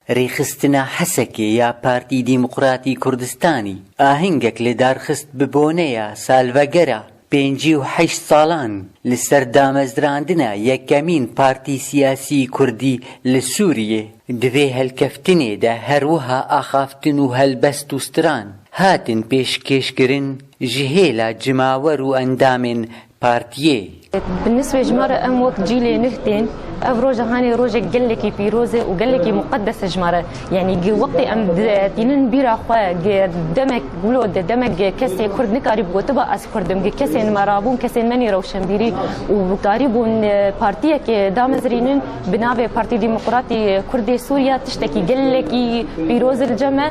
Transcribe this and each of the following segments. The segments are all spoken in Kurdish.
Rêxistina Hesekê ya Partî Dîmokratî Kurdistanî ahengek li dar xist bi boneya salvegera pêncî û heşt salan li ser damezrandina yekemîn partî siyasî kurdî li Sûriyê. Di vê helkeftinê de her wiha axaftin û helbest û stran hatin pêşkêşkirin ji hêla cimawer û endamên Partiyê. Bi nisbê ji me re em wek cîlê nuh tên. Ev roja hanê rojek gelekî pîroz e û gelekî muqedes e ji me re. Yanî gi wextê em tînin bîra xwe gi demek wilo di demek gi kesê kurd nikarîb gotiba ez kurd im. Gi kesên me rabûn kesên menî rewşenbîrî û karîbûn partiyekê damezirînin bi navê Partî Dîmoqratî Kurdê Sûriya tiştekî gelekî pîroz li cem e.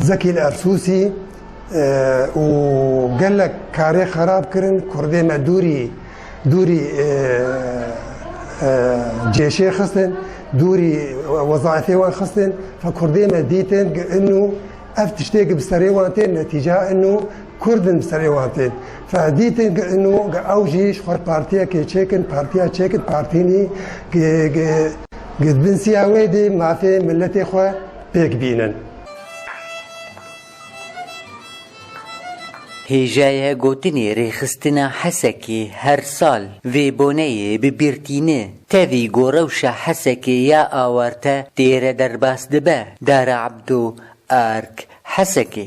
Zekî li efsûsî û gelek karê xerab kirin, kurdê me dûrî dûrî cêşê xistin, dûrî wezaîfê wan xistin, fa kurdê me dîtin gi inû ev tiştê gi bi serê wan tên netîca inû kurd in bi serê wan tên. Fa dîtin gi inû gi ew jî ji xwe partiyekê çêkin, partiya çêkin, partînî gi gi gi binsîya wê dê mafê miletê xwe pêk bînin. Hêjaya gotinê Rêxistina Hesekê her sal vê boneyê bi bîr tîne. Tevî ku rewşa Hesekê ya awarte têre derbas dibe, Dara Ebdo, ark, Hesekê.